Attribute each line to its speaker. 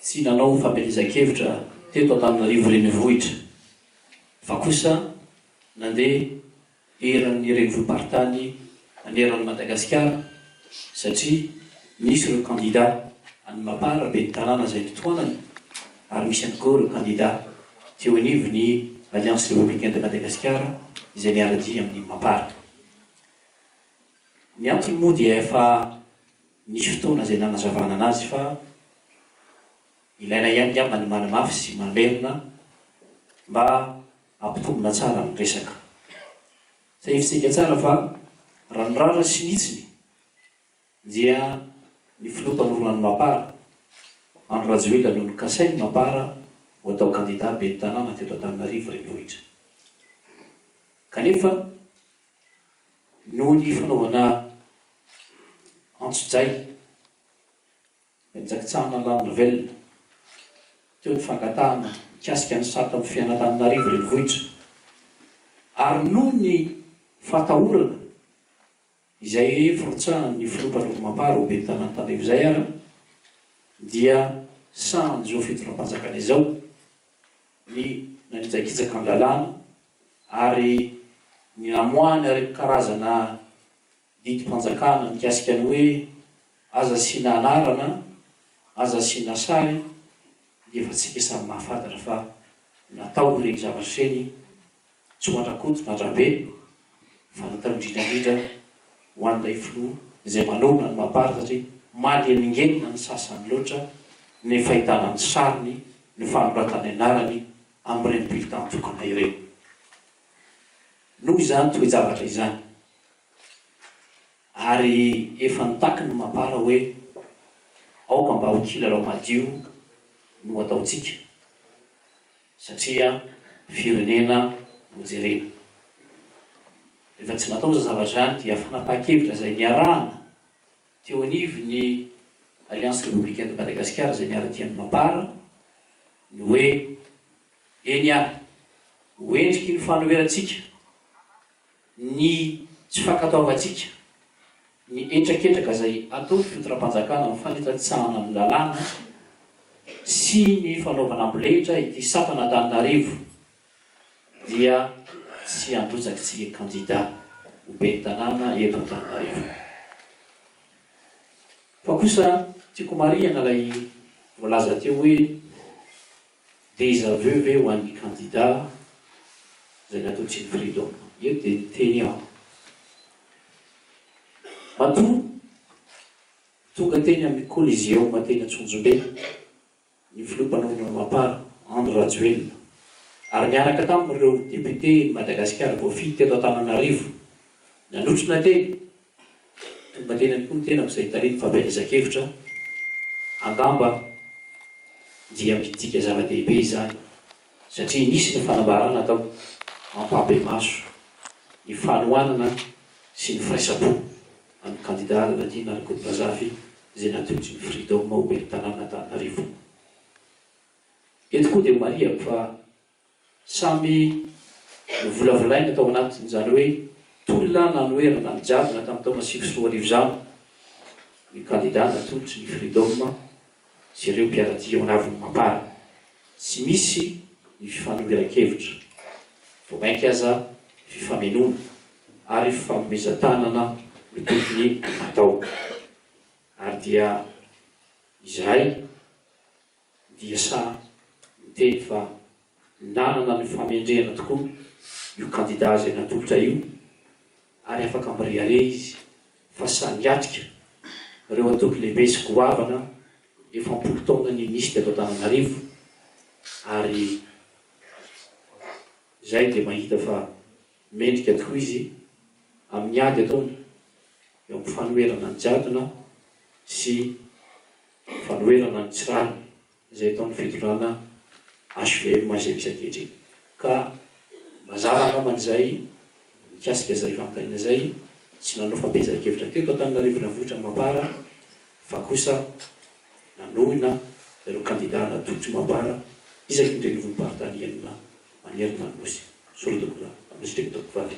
Speaker 1: Tsy nanao famelezan-kevitra teto Antananarivo Renivohitra fa kosa nandeha eran'ny renivohi-paritany aneran'i Madagasikara satria misy ireo kandida any Mapar ben'ny tanàna izay notohanany ary misy ihany koa ireo kandida teo anivon'ny Alliance Républicaine de Madagascar izay miara-dia amin'ny Mapar. Ny antony moa dia efa nisy fotoana izay nanazavana anazy fa ilaina ihany angamba ny manamafy sy mamerina mba hampitombina tsara ny resaka. Izay hevitsika tsara fa raha ny rariny sy ny hitsiny dia ny filoha mpanorina ny Mapar, Andry Rajoelina no nokasain'ny Mapar ho atao kandida ben'ny tanàna teto Antananarivo renivohitra. Kanefa noho ny fanaovana antsojay Jakitsahana La Nouvelle. Teo ny fangatahana mikasika ny sata amin'ny fiainan'Antananarivo Renivohitra ary noho ny fahatahorana izay firotsahan'ny filoha Patrick Mampara ho ben'ny tanàn'Antananarivo izay ary dia sahan'izao fitondram-panjakana izao ny nanitsakitsaka an-dalàna ary ny namoahany ary karazana Didim-panjakana mikasika ny hoe aza asiana anarana, aza asiana sary dia efa tsika samy mahafantatra fa natao ireny zavatra ireny tsy ho an-dRakoto na an-dRabe fa natao indrindra indrindra ho an'ilay filoha izay manohana ny Mapar satria manelingelina ny sasany loatra ny fahitana ny sariny, ny fanoratana ny anarany amin'ireny bulletin tokana ireny. Noho izany toe-javatra izany. Ary efa nitaky ny mapara hoe, Aoka mba ho kilalao madio no ataontsika, satria firenena no jerena. Rehefa tsy natao izany zavatra izany dia fanapahan-kevitra izay niarahana teo anivon'ny Alliance Républicaine de Madagascar izay niara-dia ny mapara ny hoe, Eny ary, ho endriky ny fahanoherantsika, Ny tsy fankatoavantsika ny hetraketraka izay ataon'ny fitondram-panjakana amin'ny fanitsakitsahana ny lalàna sy ny fanaovana ambolehitra ity sampana Antananarivo dia tsy handrotsak'tsika kandida ho ben'ny tanàna eto Antananarivo fa kosa tiako marihana ilay voalaza teo hoe Déjà vu ve ho an'ny kandida izay natao Team Freedom? Io dia niteny aho. Matoa tonga teny amin'ny Coliseum teny Antsonjombe ny filoha mpanorina Mapar, Andry Rajoelina, ary niaraka taminy ireo depioten'i Madagasikara voafidy teto Antananarivo, nanotrona teny, Tonga teny am-po ny tenako izay talen'ny fampielezan-kevitra angamba dia midika zava-dehibe izany satria nisy ny fanambarana tao mampahibemaso ny fanohanana sy ny firaisam-po amin'ny kandida Raladina Rakotonazafy izay natolotry ny Freedom ho ben'ny tanànan'Antananarivo. Eto koa dia marihako fa. Samy novolavolaina tao anatin' izany hoe tolona nanoherana ny jadona tamin'ny taona sivy sy roa arivo izany ny kandida natolotry ny Freedom sy ireo mpiara-dia ao anavin'ny Mapar. Tsy misy ny fifanoheran-kevitra, vao mainka aza fifamenoana ary fanomezan-tanana no tokony hatao. Ary dia izahay. dia samy miteny fa nanana ny famendrehana tokoa io kandida izay natolotra io ary afaka mirehareha izy fa sahy miatrika ireo antoko lehibe sy goavana efa am-polo taona ninisy teto Antananarivo ary izay dia mahita fa mendrika tokoa izy amin'ny ady ataony eo amin'ny fanoherana ny jadona sy Ny fanoherana ny tsy rariny izay ataon'ny fitondrana HVM Mazembe sy ankehitriny. Ka mazava angambany izay mikasika izay fanontaniana izay, tsy nanao fampiezan-kevitra teto Antananarivo Renivohitra Mapar fa kosa nanohina ireo kandida natolotry Mapar isaky ny renivohi-paritany enina manerana ny Nosy, Sorodogona, Anositrimo, Tovovavy.